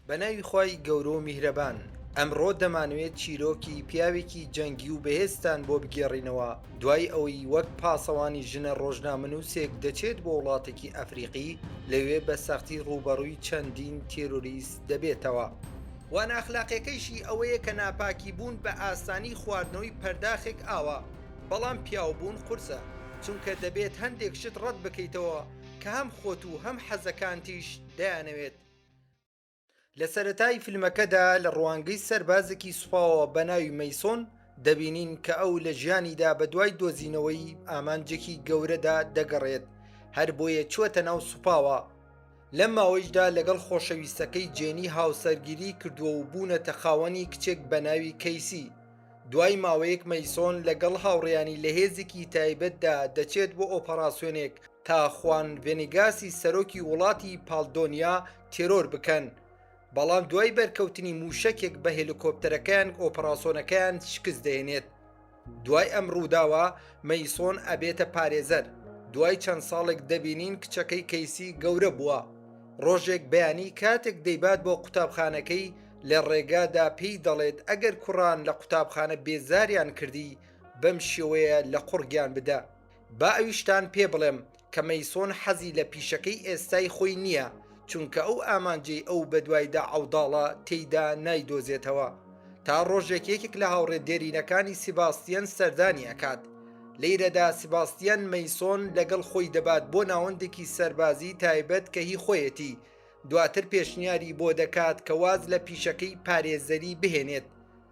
بە ناوی خوای گەورە و میهرەبان ئەمڕۆ دەمانەوێت چیرۆکی پیاوێکی جەنگی و بەهێزتان بۆ بگێڕینەوە دوای ئەوەی وەک پاسەوانی ژنە ڕۆژنامەنووسێک دەچێت بۆ وڵاتێکی ئەفریقی لەوێ بە سەختی ڕوبەڕووی چەندین تێرۆریست دەبێتەوە. وانە ئەخلاقیەکەیشی ئەوەیە کە ناپاکی بوون بە ئاسانی خواردنەوەی پەرداخێک ئاوە. بەڵام پیاوبوون قورسە، چونکە دەبێت هەندێک شت ڕەت بکەیتەوە کە هەم خۆت و هەم حەزەکانتیش دەیانەوێت. لە سەرەتای فیلمەکەدا لە ڕوانگەی سەربازێکی سوپاوە بە ناوی مەیسۆن دەبینین کە ئەو لە ژیانیدا بەدوای دۆزینەوەی ئامانجێکی گەورەدا دەگەڕێت هەربۆیە چووەتە ناو سوپاوە، لەم ماوەیشدا لەگەڵ خۆشەویستەکەی جێنی هاوسەرگیری کردووە و بوونەتە خاوەنی کچێک بە ناوی کەیسی دوای ماوەیەک مەیسۆن لەگەڵ هاوڕێیانی لە هێزێکی تایبەتدا دەچێت بۆ ئۆپەراسیۆنێک تا خوان ڤێنیگاسی سەرۆکی وڵاتی پاڵدۆنیا تێرۆر بکەن بەڵام دوای بەرکەوتنی مووشەکێک بە هێلیکۆپتەرەکەیان ئۆپەراسۆنەکەیان شکست دەێنێت دوای ئەم ڕووداوە مەیسۆن ئەبێتە پارێزەر دوای چەند ساڵێک دەبینین کچەکەی کەیسی گەورە بووە ڕۆژێک بەیانی کاتێک دەیبات بۆ قوتابخانەکەی لە ڕێگادا پێی دەڵێت ئەگەر کوڕان لە قوتابخانە بێزاریان کردی بەم شێوەیە لە قوڕگیان بدە با ئەویشتان پێ بڵێم کە مەیسۆن حەزی لە پیشەکەی ئێستای خۆی نییە چونکە ئەو ئامانجەی ئەو بەدوایدا عەوداڵە تێیدا نایدۆزێتەوە تا ڕۆژێک یەکێک لە هاوڕێ دێرینەکانی سیباستیان سەردانی ئەکات لەیرەدا سیباستیان مەیسۆن لەگەڵ خۆی دەبات بۆ ناوەندێکی سەربازی تایبەت کە هی خۆیەتی دواتر پێشنیاری بۆ دەکات کە واز لە پیشەکەی پارێزەری بهێنێت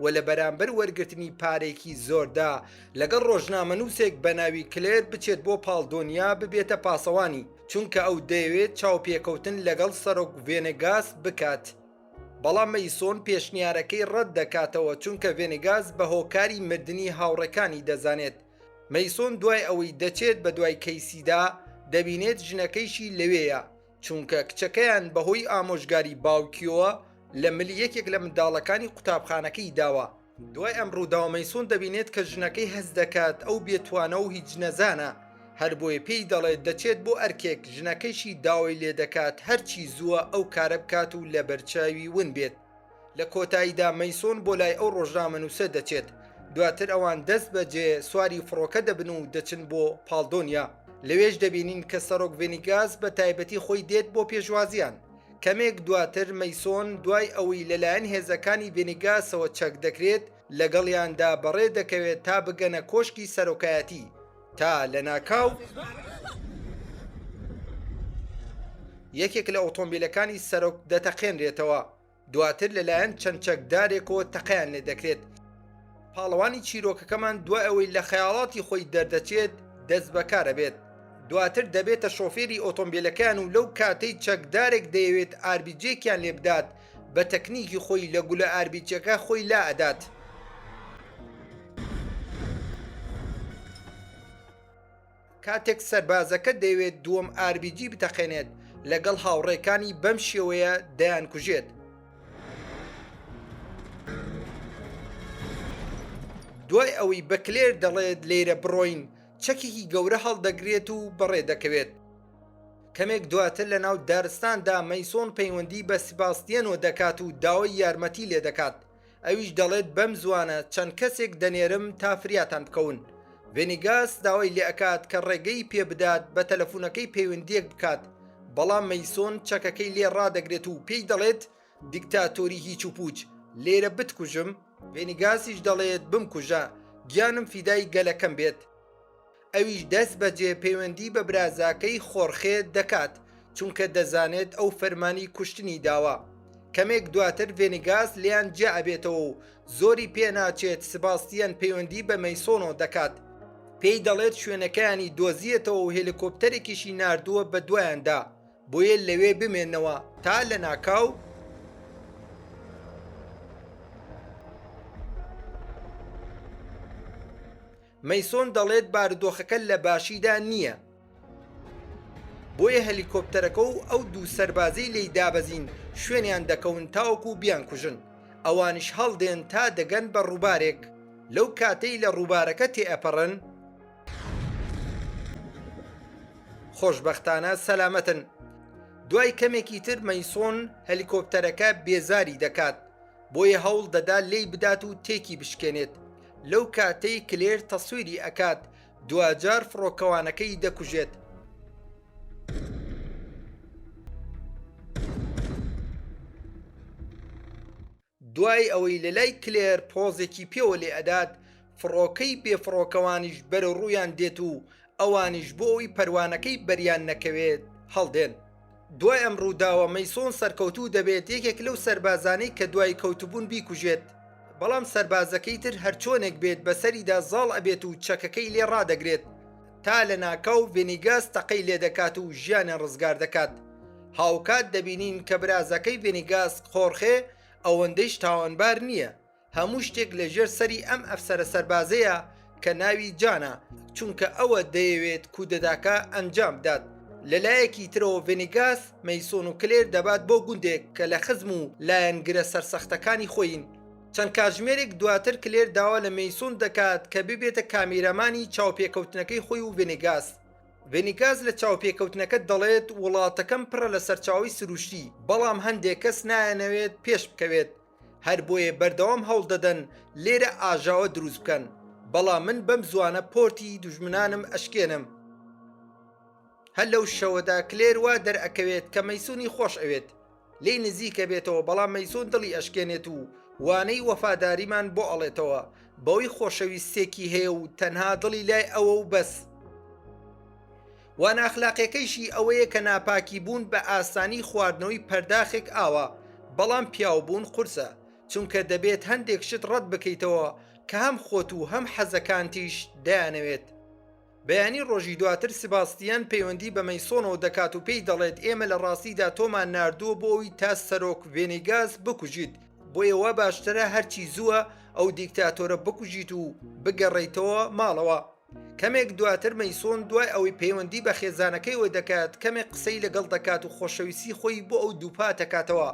و لە بەرامبەر وەرگرتنی پارێکی زۆردا لەگەڵ ڕۆژنامەنووسێک بە ناوی کلێر بچێت بۆ پاڵدۆنیا ببێتە پاسەوانی چونکە ئەو دەیەوێت چاوپێکەوتن لەگەڵ سەرۆک ڤێنگاس بکات. بەڵام مەیسۆن پێشنیارەکەی ڕەت دەکاتەوە چونکە ڤێنگاز بە هۆکاری مردنی هاوڕێکانی دەزانێت مەیسۆن دوای ئەوەی دەچێت بە دوای کەیسیدا دەبینێت ژنەکەیشی لەوێیە چونکە کچەکەیان بەهۆی ئامۆژگاری باوکیەوە لە ملی یەکێک لە منداڵەکانی قوتابخانەکەی داوە، دوای ئەم ڕووداوە مەیسۆن دەبینێت کە ژنەکەی هەست دەکات ئەو بێتوانە و هیچ نەزانە، هەربۆیە پێی دەڵێت دەچێت بۆ ئەرکێک، ژنەکەیشی داوای لێدەکات هەرچی زووە ئەو کارە بکات و لەبەرچاوی ون بێت. لە کۆتاییدا مەیسۆن بۆ لای ئەو ڕۆژنامەنووسە دەچێت دواتر ئەوان دەست بە جێ سواری فڕۆکە دەبن و دەچن بۆ پاڵدۆنیا لەوێش دەبینین کە سەرۆک ڤێنیگاس بە تایبەتی خۆی دێت بۆ پێشوازیان کەمێک دواتر مەیسۆن دوای ئەوەی لەلایەن هێزەکانی ڤێنیگاسەوە چەک دەکرێت لەگەڵیاندا بەڕێ دەکەوێت تا بگەنە کۆشکی سەرۆکایەتی تا لە ناکاو یەکێک لە ئۆتۆمبیلەکانی سەرۆک دەتەقێنرێتەوە. دواتر لەلایەن چەند چەکدارێکەوە تەقیان لێ دەکرێت پاڵەوانی چیرۆکەکەمان دوای ئەوەی لە خەیاڵاتی خۆی دەردەچێت دەست بەکارە بێت دواتر دەبێتە شۆفێری ئۆتۆمبیلەکان و لەو کاتەی چەکدارێک دەیەوێت ئاربیجێکیان لێ بدات بە تەکنیکی خۆی لە گولە ئاربیجەکە خۆی لا ئەدات. کاتێک سەربازەکە دەیەوێت دووەم ئاربیجی بتەقێنێت لەگەڵ هاوڕێکانی بەم شێوەیە دەیانکوژێت. دوای ئەوەی بە کلێر دەڵێت لێرە بڕۆین، چەکێکی گەورە هەڵدەگرێت و بەڕێ دەکەوێت. کەمێک دواتر لە ناو دارستاندا مەیسۆن پەیوەندی بە سیباستیەنۆ دەکات و داوای یارمەتی لێدەکات. ئەویش دەڵێت بەم زوانە چەند کەسێک دەنێرم تا فریاتان بکەون ڤێنیگاس داوای لێ ئەکات کە ڕێگەی پێبدات بە تەلەفونەکەی پەیوەندیەک بکات بەڵام مەیسۆن چەکەکەی لێ ڕادەگرێت و پێی دەڵێت دیکتاتۆری هیچ و پوچ لێرە بتکوژم ڤێنیگاسیش دەڵێت بمکوژە گیانم فیدای گەلەکەم بێت ئەویش دەست بەجێ پەیوەندی بە برازاکەی، خۆرخێ، دەکات، چونکە دەزانێت ئەو فەرمانی کوشتنی داوە. کەمێک دواتر ڤێنیگاس لێیان جیا ئەبێتەوە و زۆری پێ ناچێت سباستیان پەیوەندی بە مەیسۆنۆ دەکات، پێی دەڵێت شوێنەکەیانی دۆزیەتەوە و هێلیکۆپتەرێکیشی ناردووە بەدوایاندا، بۆیە لەوێ بمێنەوە تا لەناکاو. مەیسۆن دەڵێت بارودۆخەکە لە باشیدا نییە، بۆیە هەلیکۆپتەرەکە و ئەو دوو سەربازەی لێی دابەزین شوێنیان دەکەون تاوەکو بیانکوژن، ئەوانیش هەڵدێن تا دەگەن بە ڕووبارێک، لەو کاتەی لە ڕووبارەکە تێئەپەڕن، خۆشبەختانە سەلامەتن. دوای کەمێکی تر مەیسۆن هەلیکۆپتەرەکە بێزاری دەکات، بۆیە هەوڵدەدا لێی بدات و تێکی بشکێنێت، لەو کاتەی کلێر تەسویری ئەکات دواجار فڕۆکەوانەکەی دەکوژێت. دوای ئەوەی لەلای کلێر پۆزێکی پێوە لێ ئەدات فڕۆکەی بێ فڕۆکەوانیش بەرەو ڕوویان دێت و ئەوانیش بۆ ئەوی پەروانەکەی بەریان نەکەوێت هەڵدێن. دوای ئەم ڕووداوە مەیسۆن سەرکەوتوو دەبێت یەکێک لەو سەربازانەی کە دوای کەوتبوون بیکوژێت، بەڵام سەربازەکەی تر هەرچۆنێک بێت بەسەریدا زاڵ ئەبێت و چەکەکەی لێ ڕادەگرێت تا لەناکاو ڤێنیگاس تەقەی لێدەکات و ژیانێ ڕزگار دەکات هاوکات دەبینین کە برازەکەی ڤێنیگاس خۆرخێ ئەوەندەیش تاوانبار نییە هەموو شتێک لە ژێر سەری ئەم ئەفسەرە سەربازەیە کە ناوی جانە چونکە ئەوە دەیەوێت کودەتاکە ئەنجام بدات لەلایەکی ترەوە ڤێنیگاس مەیسۆن و کلێر دەبات بۆ گوندێک کە لە خزم و لایەنگرە سەرسەختەکانی خۆین چەند کاتژمێرێک دواتر کلێر داوا لە مەیسۆن دەکات کە ببێتە کامێرامانی چاوپێکەوتنەکەی خۆی و ڤێنیگاس ڤێنیگاس لە چاوپێکەوتنەکە دەڵێت وڵاتەکەم پڕە لە سەرچاوەی سروشتی بەڵام هەندێک کەس نایانەوێت پێشبکەوێت هەر بۆیە بەردەوام هەوڵ دەدەن لێرە ئاژاوە دروست بکەن بەڵام من بەم زوانە پۆرتی دوژمنانم ئەشکێنم هەر لەو شەوەدا کلێر وا دەرئەکەوێت کە مەسونی خۆش ئەوێت لی نزیکە بێتەوە بەڵام مەسون دڵی ئەشکێنێت و وانەی وەفاداریمان بۆ ئەڵێتەوە بەوەی خۆشەویستێکی هەیە و تەنها دڵی لای ئەوە و بەس وا ناخلاقیەکەیشی ئەوەیە کە ناپاکی بوون بە ئاسانی خواردنەوەی پەرداخێک ئاوە بەڵام پیاو بوون قورسە چونکە دەبێت هەندێک شت ڕەت بکەیتەوە کە هەم خۆت و هەم حەزەکانتیش دەیانەوێت بەیانی ڕۆژی دواتر سباستیان پەیوەندی بە مەیسۆنەوە دەکات و پێی دەڵێت ئێمە لە ڕاستیدا تۆمان ناردووە بۆ ئەوی تا سەرۆک ڤێنیگاس بکوژیت بۆیە وا باشترە هەرچی زووە ئەو دیکتاتۆرە بکوژیت و بگەڕێیتەوە ماڵەوە. کەمێک دواتر مەیسۆن دوای ئەوەی پەیوەندی بە خێزانەکەیەوە دەکات کەمێک قسەی لەگەڵ دەکات و خۆشەویستی خۆی بۆ ئەو دووپات دەکاتەوە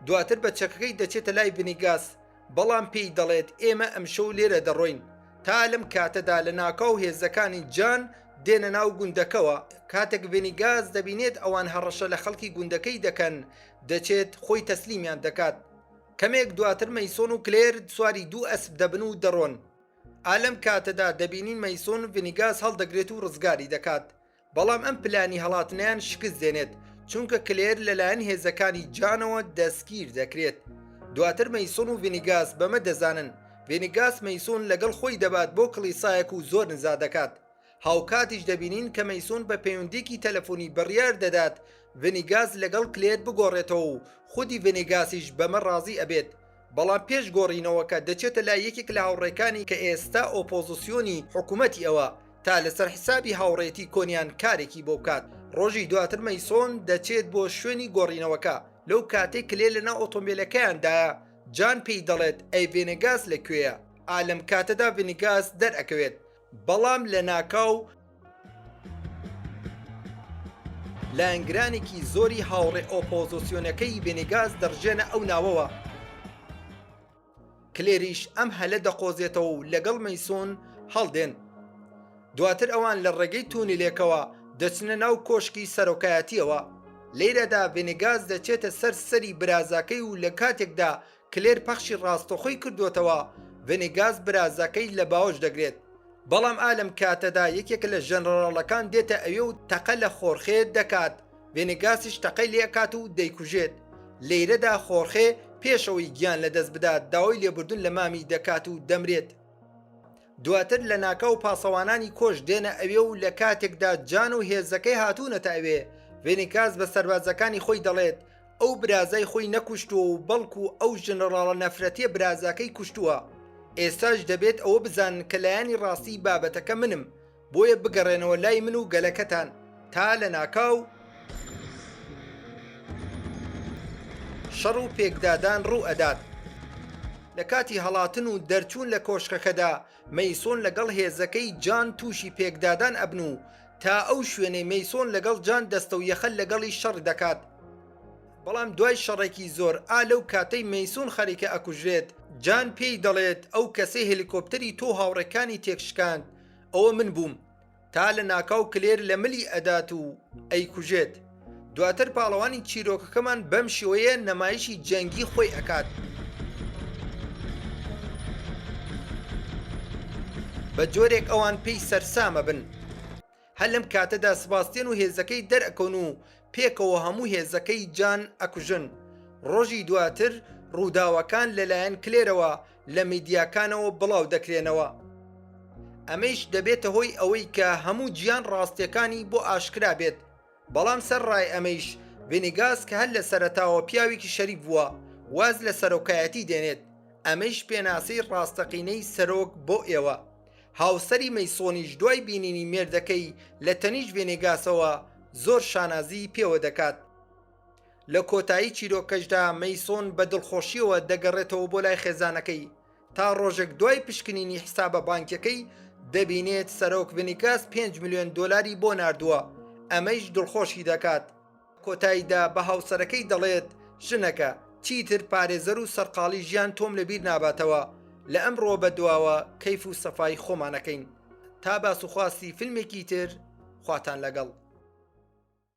دواتر بە چەکەکەی دەچێتە لای ڤنیگاس بەڵام پێی دەڵێت ئێمە ئەمشەو لێرە دەڕۆین تا لەم کاتەدا لە ناکاو هێزەکانی جان دێنە ناو گوندەکەوە کاتێک ڤێنیگاز دەبینێت ئەوان هەڕەشە لە خەڵکی گوندەکەی دەکەن دەچێت خۆی تەسلیمیان دەکات کەمێک دواتر مەیسۆن و کلێر سواری دوو ئەسپ دەبن و دەڕۆن ئا لەم کاتەدا دەبینین مەیسۆن ڤنیگاس هەڵدەگرێت و ڕزگاری دەکات، بەڵام ئەم پلانی هەڵاتنەیان شکست دێنێت، چونکە کلێر لەلایەن هێزەکانی جانەوە دەستگیر دەکرێت. دواتر مەیسۆن و ڤنیگاس بەمە دەزانن، ڤنیگاس مەیسۆن لەگەڵ خۆی دەبات بۆ کڵیسایەک و زۆر نزا دەکات، هاوکاتیش دەبینین کە مەیسۆن بە پەیوەندییەکی تەلەفۆنی بڕیار دەدات ڤنیگاس لەگەڵ کلێر بگۆڕێتەوە و خودی ڤنیگاسیش بەمە ڕازی ئەبێت، بەڵام پێش گۆڕینەوەکە دەچێتە لای یەکێک لە هاوڕێکانی کە ئێستا ئۆپۆزسیۆنی حکومەتی ئەوە تا لەسەر حسابی هاوڕێتی کۆنیان کارێکی بۆ بکات. ڕۆژی دواتر مەیسۆن دەچێت بۆ شوێنی گۆڕینەوەکە، لەو کاتەی کلێر لەناو ئۆتۆمبێلەکەیاندایە جان پێی دەڵێت ئەی ڤێنێگاس لە کوێیە؟ ئا لەم کاتەدا ڤنیگاس دەرئەکەوێت، بەڵام لەناکاو لایەنگرانێکی زۆری هاوڕێ ئۆپۆزۆسیۆنەکەی ڤێنیگاس دەڕژێنە ئەو ناوەوە. کلێریش ئەم هەلە دەقۆزێتەوە و لەگەڵ مەیسۆن هەڵدێن. دواتر ئەوان لە ڕێگەی تونیلێکەوە دەچنە ناو کۆشکی سەرۆکایەتیەوە. لێرەدا ڤێنیگاس دەچێتە سەر سەری برازاکەی و لە کاتێکدا کلێر پەخشی ڕاستەخۆی کردووەتەوە، ڤێنیگاس برازەکەی لە باوەش دەگرێت، بەڵام ئا لەم کاتەدا یەکێک لە ژەنەڕاڵەکان دێتە ئەوێ و تەقە لە خۆرخێ دەکات، ڤێنیگاسیش تەقەی لێ ئەکات و دەیکوژێت، لێیرەدا خۆرخێ پێش ئەوەی گیان لە دەست بدات داوای لێبوردن لە مامی دەکات و دەمرێت. دواتر لە ناکاو پاسەوانانی کۆش دێنە ئەوێ و لە کاتێکدا جان و هێزەکەی هاتوونەتە ئەوێ، ڤێنیگاس بە سەربازەکانی خۆی دەڵێت، ئەو برازای خۆی نەکوشتووە و بەڵکو ئەو ژنەڕاڵە نەفرەتیە برازاکەی کوشتووە ئێستاش دەبێت ئەوە بزانن کە لایەنی ڕاستی بابەتەکە منم بۆیە بگەڕێنەوە لای من و گەلەکەتان تا لە ناکاو شەڕ و پێکدادان ڕوو ئەدات. لە کاتی هەڵاتن و دەرچوون لە کۆشکەکەدا مەیسۆن لەگەڵ هێزەکەی جان تووشی پێکدادان ئەبن و تا ئەو شوێنەی مەیسۆن لەگەڵ جان دەستە و یەخە لەگەڵی شەڕ دەکات بەڵام دوای شەڕێکی زۆر ئا لەو کاتەی مەیسۆن خەریکە ئەکوژرێت جان پێی دەڵێت ئەو کەسەی هێلیکۆپتەری تۆو هاوڕێکانی تێک شکاند ئەوە من بووم تا لە ناکاو کلێر لە ملی ئەدات و ئەیکوژێت. دواتر پاڵەوانی چیرۆکەکەمان بەم شێوەیە نەمایشی جەنگی خۆی ئەکات بە جۆرێک ئەوان پێی سەرسامە بن هەر لەم کاتەدا سباستێن و هێزەکەی دەرەکەون و پێکەوە هەموو هێزەکەی جان ئەکوژن ڕۆژی دواتر ڕووداوەکان لەلایەن کلێرەوە لە میدیاکانەوە بڵاو دەکرێنەوە ئەمەیش دەبێتە هۆی ئەوەی کە هەموو گیان ڕاستیەکانی بۆ ئاشکرا بێت بەڵام سەر ڕای ئەمەیش ڤینیگاس کە هەر لە سەرەتاوە پیاوێکی شەریف بووە واز لە سەرۆکایەتی دێنێت، ئەمەیش پێناسەی ڕاستەقینەی سەرۆک بۆ ئێوە. هاوسەری مەیسۆنیش دوای بینینی مێردەکەی لە تەنیشت ڤینیگاسەوە زۆر شانازیی پێوە دەکات. لە کۆتایی چیرۆکەشدا مەیسۆن بە دڵخۆشییەوە دەگەڕێتەوە بۆ لای خێزانەکەی، تا ڕۆژێک دوای پشکنینی حسابە بانکیەکەی دەبینێت سەرۆک بنیکاس 5 میلیۆن دلاری بۆ نردووە ئەمەیش دڵخۆشی دەکات کۆتاییدا بە هاوسەرەکەی دەڵێت ژنەکە چیتر پارێزەر و سەرقاڵی ژیان تۆم لەبیر ناباتەوە لە ئەم ڕۆ بە دواوە کەیف و سەفای خۆمانەکەین تا باسوخواستی فیلمێکی تر خواتان لەگەڵ